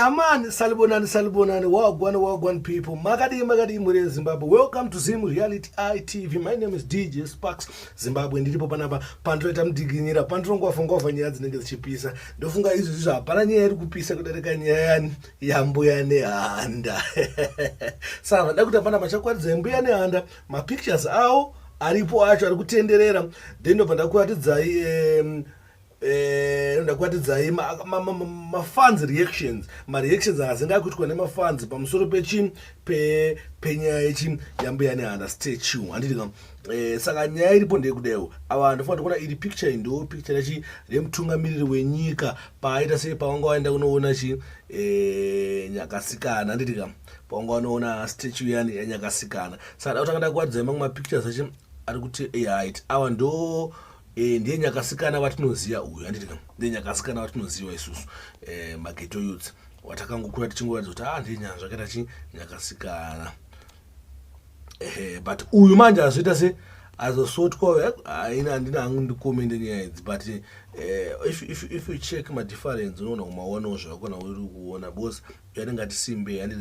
yamani salibonani salibonani wagwan wagwan people makadii makadii mhuri yezimbabwe welcome to zim reality itv my name is dj sparks zimbabwe ndiripo panapa pandinoita mudiginyira pandinongwavha ngwavha nyaya dzinenge dzichipisa ndofunga izvi zvizvo hapana nyaya iri kupisa kudarika nyaya yani yambuya nehanda saka vada kuti hapana pachakwaridza yambuya nehanda mapictures awo aripo acho ari kutenderera then ndobva ndakuratidzai um, Eh, ndakuatidzai mafans reactions mareactions azinga akuitwa nemafans pamusoro pechi penyaya yechi yambuya nehanda statue handiti ka eh, saka nyaya iripo ndeyekudaiwo ava vanhu ndofana tokuona iri picture ndo picture yachi remutungamiriri wenyika paaita sei pavanga waenda kunoona chi eh, nyakasikana handiti ka pongo anoona statue yani yanyakasikana saka dauti angada kuwadza imamwe mapictures achi ari kuti ehait awa ndo eh, ndiye nyakasikana vatinoziva uyu anditi ka ndiye nyakasikana vatinoziva isusu eh, mageto youths watakangokura tichingoratidza kuti a ah, ndiye nyanzvi akaita chi nyakasikana ehe but uyu manje azoita se azosotwa eh, aina handina hangu ndikomende nyaya idzi but uh, if, if, if you check madifference unoona kumaonawo zvavakona uri kuona because yani ngati simbe yani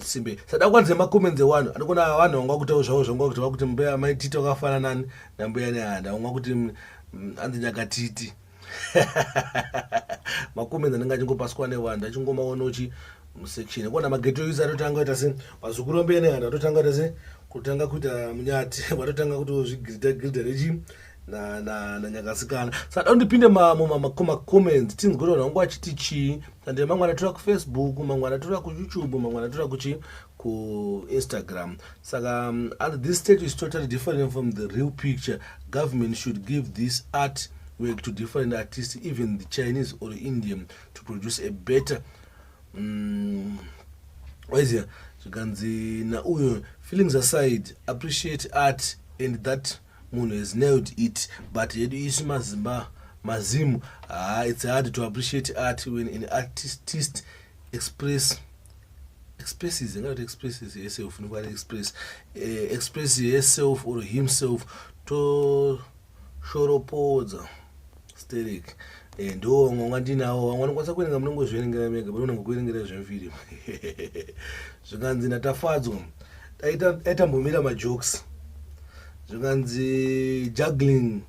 simbe sada kwanze makomenze wanu anokona vanhu vanga kutawo zvavo zvanga kuti vakuti mbeya mai titi wakafana nani nambeya ne handa wanga kuti mm, mm, anzi nyaka titi makomenze anenge achingopaswa nevanhu achingomaona uchi musection kona mageto user atotanga ita se mazukuru ambeya ne handa atotanga ita se kutanga kuita munyati vatotanga kuti zvigrida grida rechi na na na nyakasikana sada undipinde mamo mama koma comments tinzwe kuti vanhu vangu vachiti chii tande mamwe anatora kufacebook mamwe anatora kuyoutube mamwe anatora kuchi kuinstagram saka um, and this state is totally different from the real picture government should give this art work to different artists even the chinese or indian to produce a better um, waizia zvikanzi na uyo feelings aside appreciate art and that munhu has nailed it but yedu isu mazimba mazimu haa it's hard to appreciate art when an artist express expresses ingati expresses herself funiko ari express eh, express herself or himself toshoropodza Sterek eh, ndiwo vamwe vanga ndinawo vamwe vanokwanisa kuerenga munongozviverengera mega pane unenge kuerengera zvemufirimu zvikanzi ndatafadzwa aitambomira majokes zvikanzi juggling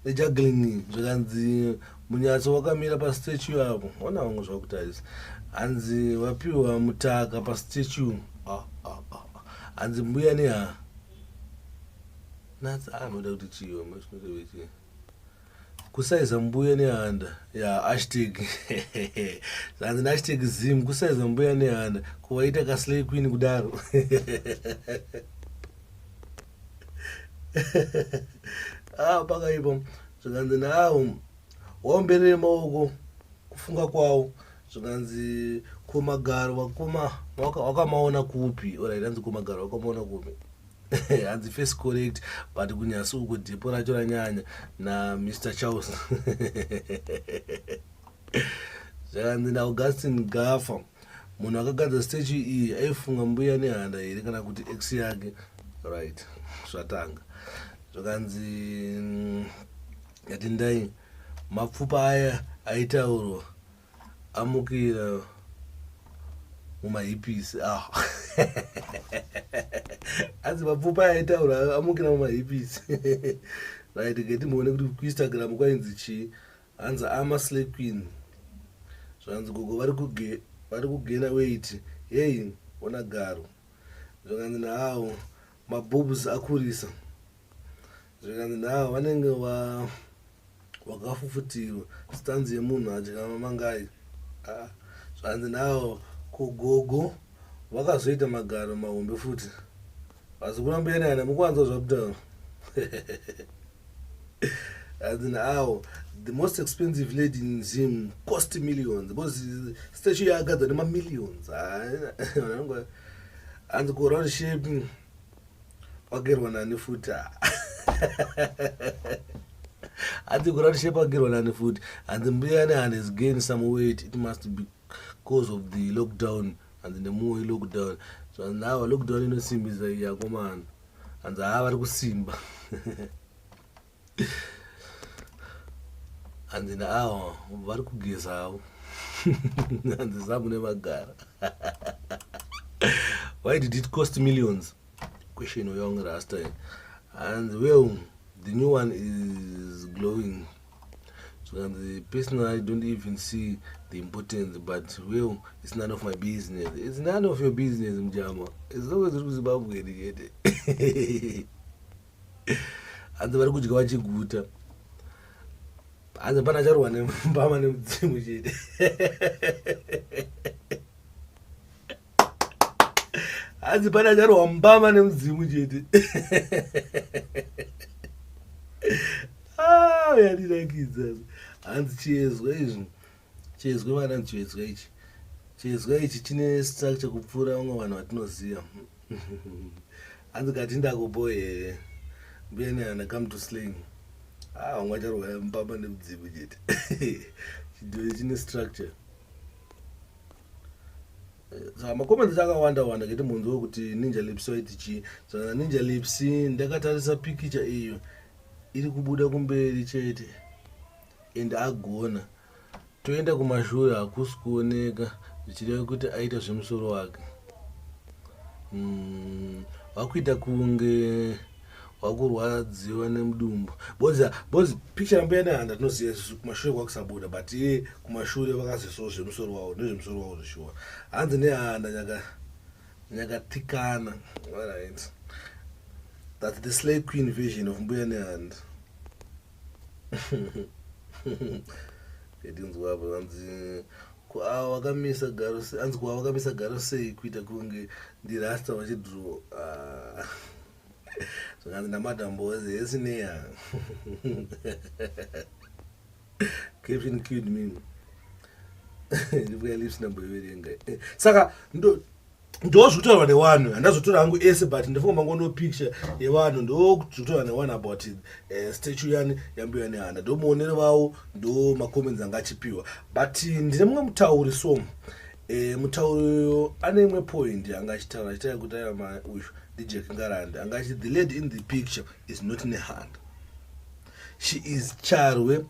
nejuggling zvikanzi munyatso wakamira pastatue apo ona vamwe zvakutarisa hanzi vapiwa mutaka pastatue ah, ah, ah, hanzi mbuya neha natsi anoda kuti chiyo mashinorevechi kusaiza mbuya nehanda ya hashtag zvanzi nehashtag zim kusaiza mbuya nehanda kuwaita kaslay queen kudaro ah, pakaipa zvikanzi nawo waomberere maoko kufunga kwawo zvikanzi komagaro vakoma wakamaona kupi ora iranzi komagaro wakamaona kupi hanzi face correct but kunyasi uko dhepo racho ranyanya namr charles zvakanzi naaugustin gafa munhu akagadza statue iyi aifunga mbuya nehanda here kana kuti x yake right zvatanga zvakanzi mm, yatindai mapfupa aya aitaurwa Amukira mumahipisi ah. asi mapfupa aitaura amukira mumahipisi right ngetimuone kuti kuinstagram kwainzi chii hanzi ama slay queen zvanzi gogo vari kugena weit heyi ona garo zvakanzi naawo maboobs akurisa zvikanzi navo vanenge wa wakafufutirwa stanzi yemunhu adya mamangai ah, zvanzi navo kugogo vakazoita magaro mahombe futi asi kurambirana mukuwanza zvakutaura as in how the most expensive lady in zim cost millions because statue yaagadzwa nemamillions hanzi kuround shape wagerwa nani futi hanzi kuround shape wagerwa nani futi hanzi mbuya ne hand has gained some weight it must be cause of the lockdown hanzi nemuwo ilockdown so now lockdown inosimbisa iyakomana hanzi haa vari kusimba hanzi naawa vari kugeza havo hanzi zamune magara why did it cost millions question uyonge rasta hanzi well the new one is glowing zvikanzi personally i don't even see the importance but well it's none of my business it's none of your business mjama as long as uri kuzimbabwe iri chete hanzi vari kudya vachiguta hanzi pana charohwa nembama nemudzimu chete hanzi pane acharwa mbama nemudzimu chete ah, yandinakidza hanzi chiezwa izvi chiezwa vana ndichiezwa ichi chiezwa ichi chine structure kupfuura vamwe vanhu vatinoziva hanzi kati ndakuboyee mbuya nehana come to sling ah, vamwe acharwa mbama nemudzimu chete chidhori chine structure saka macomments akawanda wanda kiti munhu wekuti ninja lips waiti chii saka ninja lips ndakatarisa pikicha iyo iri kubuda kumberi chete and agona toenda kumashure hakusi kuoneka zvichireva kuti aita zvemusoro wake mm, vakuita kunge wakurwadziwa nemudumbu bozi bozi picture yambuya nehanda tinoziva isusu kumashure kwakusabuda but iye kumashure vakaziso zvemusoro wavo nezvemusoro wavo zvishuwa hanzi nehanda nyaka nyakatikana right that the slay queen vision of mbuya nehanda edinzwapo hanzi kwaavo vakamisa garo hanzi kwaavo vakamisa garo sei kuita kunge ndirasta vachidro ah. zvakanzi namadam boys esineya kevin kid me ndibuya lips namboiverenga saka ndo ndozvitaurwa newanhu handazotora hangu ese but ndifunga mangono picture yevanhu ndozvitaurwa newanhu about uh, statue yani yambuya nehanda ndomuonero vavo ndo macomments anga achipiwa but ndine mumwe mutauri so E, mutauri uyo ane imwe point yanga achitaura achitaura kuti aiva mai uyu ndijack ngarande anga achiti the lady in the picture is not nehanda she is charwe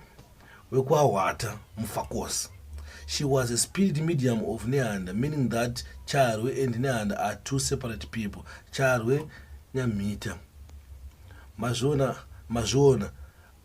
wekwahwata mufakosi she was a speed medium of nehanda meaning that charwe and nehanda are two separate people charwe nyamhita mazviona mazviona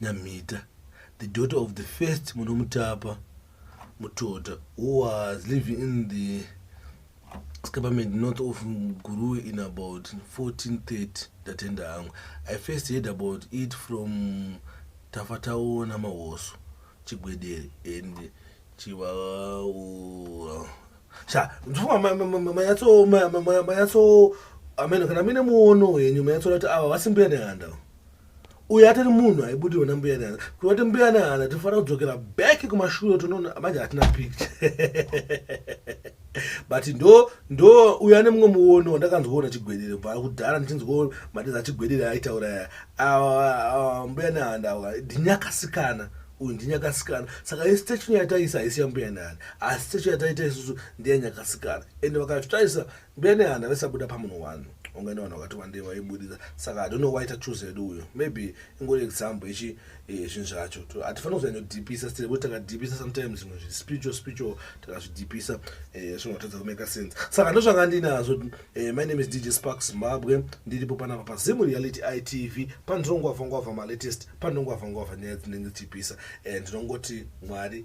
Nyamhita, the daughter of the first Munomutapa Mutota, who was living in the escapement north of Gurui in about 1430 ndatenda hangu. I first heard about it from Tafataona Mahoso Chigwedere and Chivaura. Sha, ndifuma manyatso manyatso amene kana mine muono wenyu manyatso kuti ava vasimbuya nehanda. uyo atori munhu aibudirwa nambuya nehana kuti vati mbuya nehana tinofanira kudzokera back kumashure tonoona manje hatina picture but ndo ndo uyo ane mumwe muono wandakanzwoona chigwedere bva kudhara ndichinzwo matiza chigwedere aitaura ya awa mbuya nehanda awa ndinyakasikana uyu ndinyakasikana saka ye statue yataisa haisi yambuya nehanda asi statue yataita isusu ndeyanyakasikana ende vakatotarisa Mbene hana vesabuda pamunhu one ungaenda vanhu vakati wandei vaiburitsa saka i don't know why tachuza yedu uyo maybe ingori example yechi eh, zvinhu zvacho hatifani kuzanyodipisa still kuti takadipisa sometimes zvimwe zvi spiritual spiritual takazvidipisa eh, zvinotadza kumeka sense saka ndozvanga ndinazvo eh, my name is dj spark zimbabwe ndiripo panapa pazimu reality itv pandinongwavha ngwavha malatest pandinongwavha ngwavha nyaya dzinenge dzichipisa ndinongoti mwari